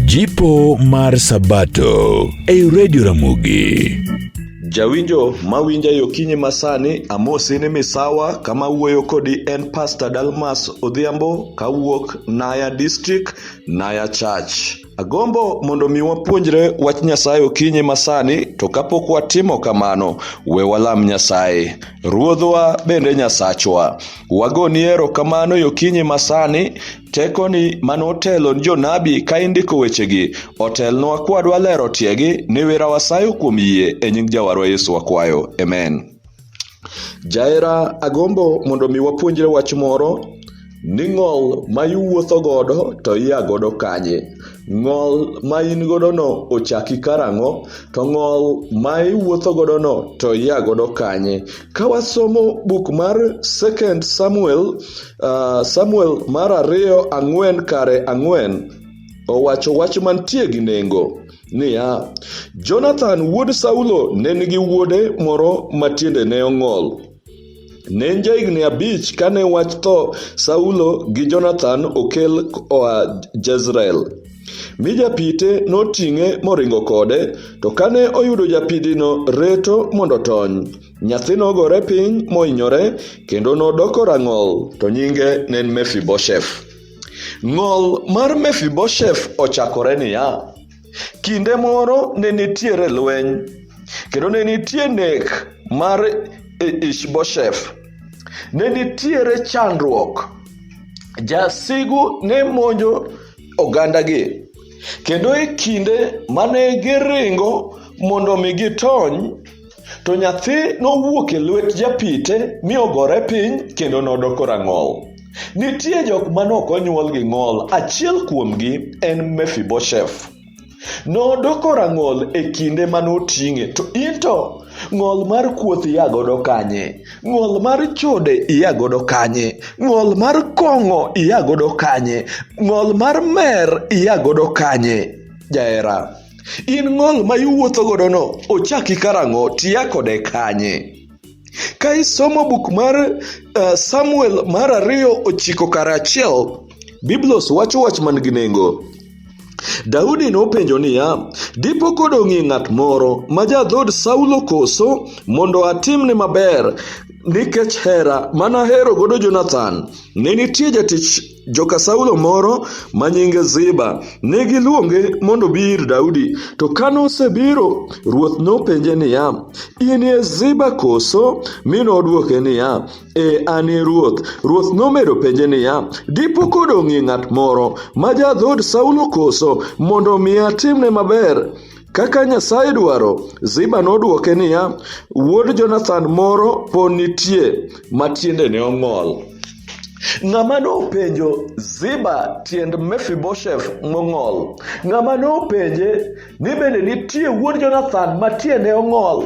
Jipo mar Sabato ei Radio Ramogi. Jawinjo mawinja yo kinyi masani amosi ni misawa kama wuoyo kodi en Pastor Dalmas Odhiambo kawuok Naya District, Naya Church. Agombo mondo mi wapuonjre wach Nyasaye okinyi masani, to kapok watimo kamano, we walam Nyasaye. Ruodhwa bende Nyasachwa. Wagoni erokamano yokinyi masani, tekoni mane otelo ni jonabi ka indiko wechegi, otelnwa kwadwa lero tiegi, ni wira wasayo kuom yie e nying Jawarwa Yesu wakwayo. Amen. Jaera agombo mondo mi wapuonjre wach moro ni ng'ol ma iwuotho godo to ia godo kanye ng'ol ma in godono ochaki karang'o to ng'ol ma iwuotho godono to ia godo kanye ka wasomo buk mar second samuel uh, samuel mar ariyo ang'wen kare ang'wen owacho wach mantie gi nengo niya, Jonathan wuod Saulo ne nigi wuode moro ma tiende ne ong'ol. Ne en jahigni abich kane wach tho Saulo gi Jonathan okel oa Jezreel. Mi japite noting'e moringo kode, to kane oyudo japidino reto mondo otony, nyathi nogore piny mohinyore kendo nodoko rang'ol, to nyinge ne en Mefibosheth. Ng'ol mar Mefibosheth ochakore niya, Kinde moro ne nitiere lweny, kendo ne nitie nek mar Ishbosheth. Ne nitiere chandruok. Jasigu ne monjo ogandagi, kendo e kinde mane giringo mondo mi gitony, To nyathi nowuok e lwet japite mi ogore piny kendo nodoko rang'ol. Nitie jok ma nok onyuol gi ng'ol, achiel kuomgi en Mefibosheth. Nodoko rang'ol e kinde ma noting'e, to in to ng'ol mar kuoth ia godo kanye? Ng'ol mar chode ia godo kanye? Ng'ol mar kong'o ia godo kanye? Ng'ol mar mer ia godo kanye? Jahera. In ng'ol ma iwuotho godono ochaki karang'o tiya kode kanye? Ka isomo buk mar uh, Samuel mar ariyo ochiko kara achiel, Biblos wacho wach man gi nengo. Daudi nopenjo niya, Dipo kodong'ie ng'at moro ma ja dhood Saulo koso mondo atimne maber nikech hera mana hero godo Jonathan? Ne nitie jatich Joka Saulo moro ma nyinge Ziba ne giluonge mondo obi ir Daudi, to ka nosebiro, ruoth nopenje niya, In e Ziba koso? Mi nodwoke niya, E an e ruoth. Ruoth nomedo penje niya, Dipo kodong'ie ng'at moro ma ja dhood Saulo koso, mondo mi atimne maber? Kaka Nyasaye dwaro, Ziba nodwoke niya, Wuod Jonathan moro po nitie ma tiendene ong'ol. Ng'ama nopenjo Ziba tiend Mefibosheth mong'ol? Ng'ama nopenje ni bende nitie wuod Jonathan ma tiende ong'ol?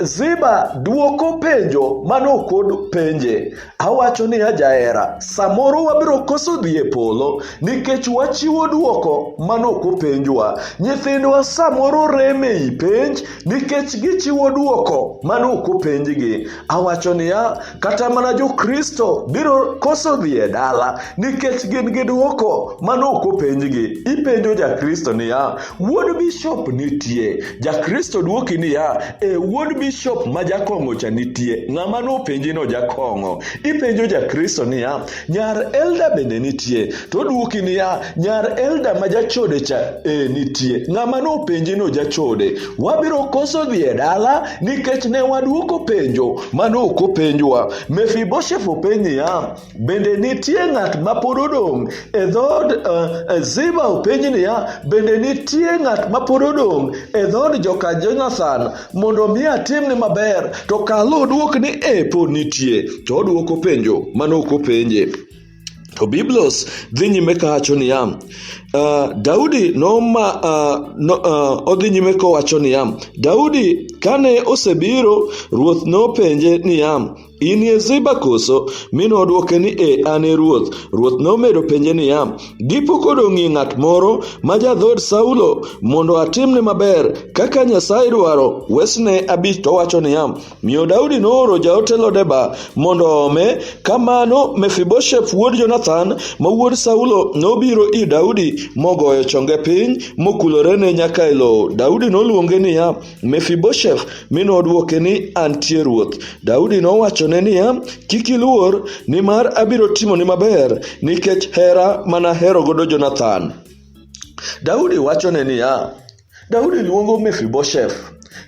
Ziba dwoko penjo mano kod penje. Awacho ni ajahera, samoro wabiro koso dhi e polo nikech wachiwo dwoko manok openjwa. Nyithindwa samoro rem ei penj nikech gichiwo dwoko manok openjgi. Awacho niya, kata mana Jokristo biro koso dhi e dala nikech gin gi dwoko manok openjgi. Ipenjo Jakristo niya, Wuod bishop nitie. Jakristo dwoki niya, e wuod bishop ma jakong'o cha nitie. Ng'ama nopenji no jakong'o. Ipenjo jakristo niya, nyar elda bende nitie. To dwoki niya, nyar elda ma jachode cha e nitie. Ng'ama nopenji no jachode. Wabiro koso dhi e dala nikech ne wadwoko penjo mane ok openjwa. Mefibosheth openj niya, Bende nitie ng'at ma pod odong' e dhood uh, Ziba openj niya, bende nitie ng'at ma pod odong' e dhood joka Jonathan mondo mi atimni maber? To kalo odwok ni e pod nitie, to odwoko penjo mane ok openje. To Biblos dhi nyime kawacho niya, uh, Daudi noma uh, no, uh, odhi nyime kowacho niya, Daudi kane osebiro, ruoth nopenje niya, In e Ziba koso? Mi nodwoke ni, E, an e ruoth. Ruoth nomedo penje niya, Dipo kod ong'e ng'at moro ma jadhood Saulo mondo atimne maber kaka Nyasaye dwaro? Wesne abich to wacho niya, Miyo Daudi nooro jaote Lodeba mondo oome. Kamano Mefibosheth wuod Jonathan ma wuod Saulo nobiro ir Daudi mogoyo chonge piny mokulorene nyaka e lowo. Daudi noluonge niya, Mefibosheth mi nodwoke ni, Antie ruoth. Daudi nowachone niya, Kik iluor, nimar abiro timoni maber nikech hera mana hero godo Jonathan. Daudi wachone niya, Daudi luongo Mefibosheth.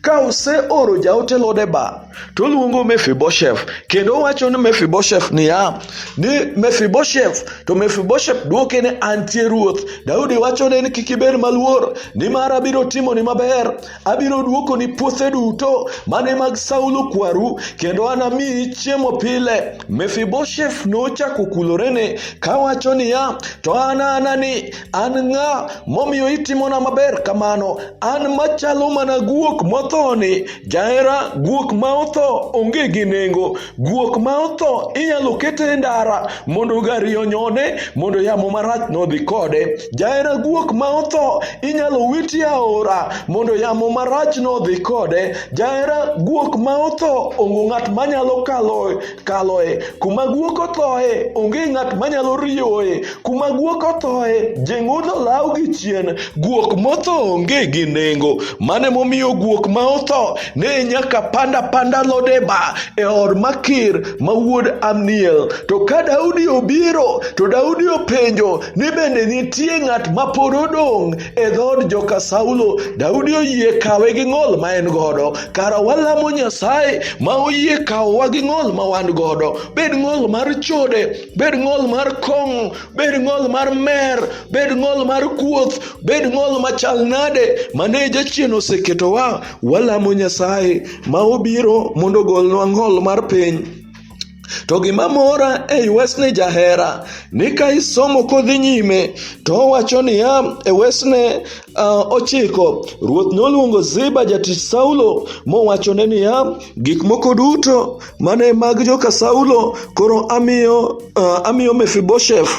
Ka oseoro jaote Lodeba to oluongo Mefibosheth kendo owacho ni Mefibosheth niya ni Mefibosheth to Mefibosheth dwoke ni antie ruoth Daudi wachone ni kik ibed maluor nimar abiro timoni maber abiro dwokoni puothe duto mane mag Saulo kwaru kendo anamiyi chiemo pile Mefibosheth nochako kulorene kawacho niya to an anani An ng'a momiyo itimona maber kamano? An machalo mana guok mothoni. Jahera, guok ma otho onge gi nengo. Guok ma otho inyalo kete e ndara mondo gari onyone mondo yamo marach nodhi kode. Jahera guok ma otho inyalo witi e aora mondo yamo marach nodhi kode. Jahera guok ma otho ongo ng'at manyalo kalo kaloe kuma guok othoe onge ng'at manyalo riyoe kuma guok othoe jeng'ono law gi chien guok motho onge gi nengo mane momiyo guok ma otho ne nyaka panda panda lodeba e od makir ma wuod amniel to ka daudi obiro to daudi openjo ni bende nitie ng'at ma pod odong' e dhood joka Saulo, Daudi oyie kawe gi ng'ol ma en godo. Kara walamo Nyasaye ma oyie kawowa gi ng'ol ma wan godo, bed ng'ol mar chode, bed ng'ol mar kong'o, bed ng'ol mar mer, bed ng'ol mar kuoth, bed ng'ol machal nade mane jachien oseketowa, walamo Nyasaye ma obiro mondo ogolnwa ng'ol mar piny. To gima mora e wesni jahera ni ka isomo kodhi nyime to owacho niya e wesne uh, ochiko ruoth noluongo Ziba jatich Saulo mowachone niya gik moko duto mane mag joka Saulo koro amiyo, uh, amiyo Mefibosheth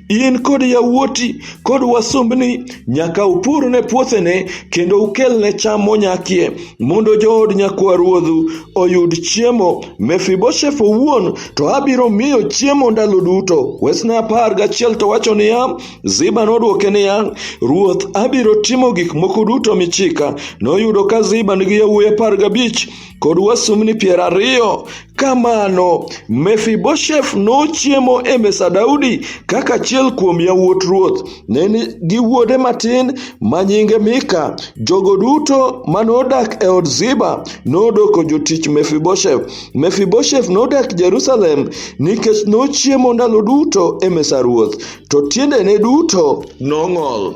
In kod yawuoti kod wasumbni nyaka upur ne puothene kendo ukelne cham monyakie, mondo jood nyakwa ruodhu oyud chiemo. Mefibosheth owuon to abiro miyo chiemo ndalo duto. Wesne apar gachiel to wacho niya, Ziba nodwoke niya, Ruoth, abiro timo gik moko duto michika. Noyudo ka Ziba nigi yawuoyi apar gabich kod wasumbni piero ariyo. Kamano, Mefibosheth nochiemo e mesa Daudi kaka achiel kuom yawuot ruoth. Ne nigi wuode matin ma nyinge Mika. Jogo duto ma nodak e od Ziba nodoko jotich Mefibosheth. Mefibosheth nodak Jerusalem nikech nochiemo ndalo duto e mesa ruoth, to tiendene duto nong'ol.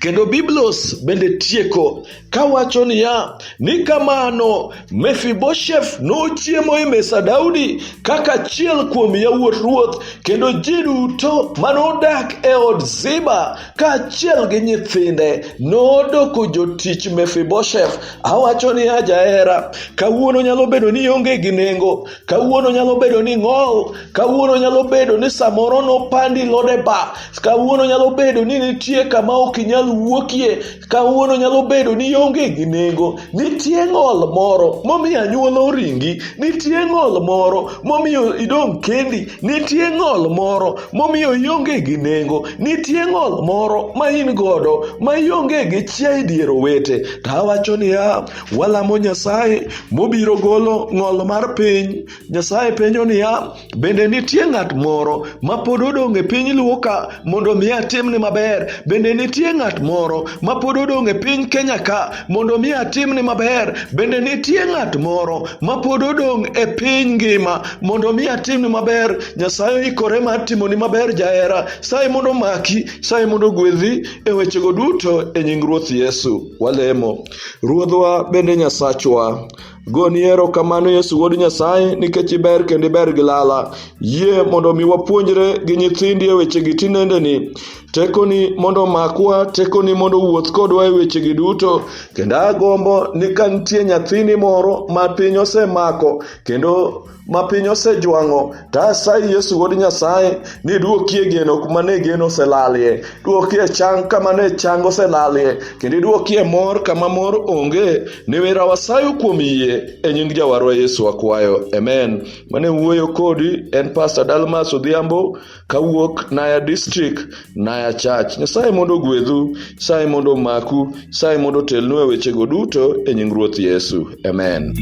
Kendo Biblos bende tieko kawacho niya ni kamano Mefibosheth nochiemo e mesa Daudi kaka achiel kuom yawuot ruoth kendo ji duto manodak e od Ziba kaachiel gi nyithinde nodoko jotich Mefibosheth. Awacho niya jahera, kawuono nyalo bedo ni ionge gi nengo Kawuono nyalo bedo ni ng'ol, kawuono nyalo bedo ni samoro nopandi lodeba, kawuono nyalo bedo ni nitie kama ok inyal wuokie, kawuono nyalo bedo ni onge gi nengo, nitie ng'ol moro momiyo anyuola oringi, nitie ng'ol moro momiyo idong' kendi, nitie ng'ol moro momiyo ionge gi nengo, nitie ng'ol moro ma in godo ma ionge gi chia e dier owete. To awacho niya, Walamo Nyasaye mobiro golo ng'ol mar piny. Nyasaye penjo niya, bende nitie ng'at moro ma pod odong' e piny luo ka mondo mi atimne maber? Bende nitie ng'at moro ma pod odong' e piny Kenya ka mondo mi atimne maber? Bende nitie ng'at moro ma pod odong' e piny ngima mondo mi atimne maber? Nyasaye oikore mar timoni maber jahera. Saye mondo maki, saye mondo gwedhi e wechego duto e nying Ruoth Yesu. Walemo. Ruodhwa bende Nyasachwa. Goni erokamano Yesu Wuod Nyasaye nikech iber kendo iber gi lala. Yie mondo omi wapuonjre gi nyithindi e wechegi tinendeni. Tekoni mondo omakwa, tekoni mondo owuoth kodwa e wechegi duto. Kendo agombo ni ka nitie nyathini moro ma piny osemako kendo ma piny osejwang'o to asayi yesu wuod nyasaye ni duokie geno kuma ne geno oselalie duokie chang kama ne chang oselalie kendo iduokie mor kama mor onge ni wera wasayo kuom yie e nying jawarwa yesu akwayo amen mane wuoyo kodi en pastor dalmas odhiambo kawuok Naya district, Naya Church. Nyasaye mondo ogwedhu, Nyasaye mondo omaku, Nyasaye mondo otelnu e wechego duto e nying Ruoth Yesu. Amen.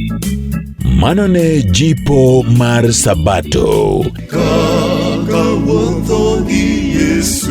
Mano ne jipo mar Sabato. Kaka wuotho gi Yesu.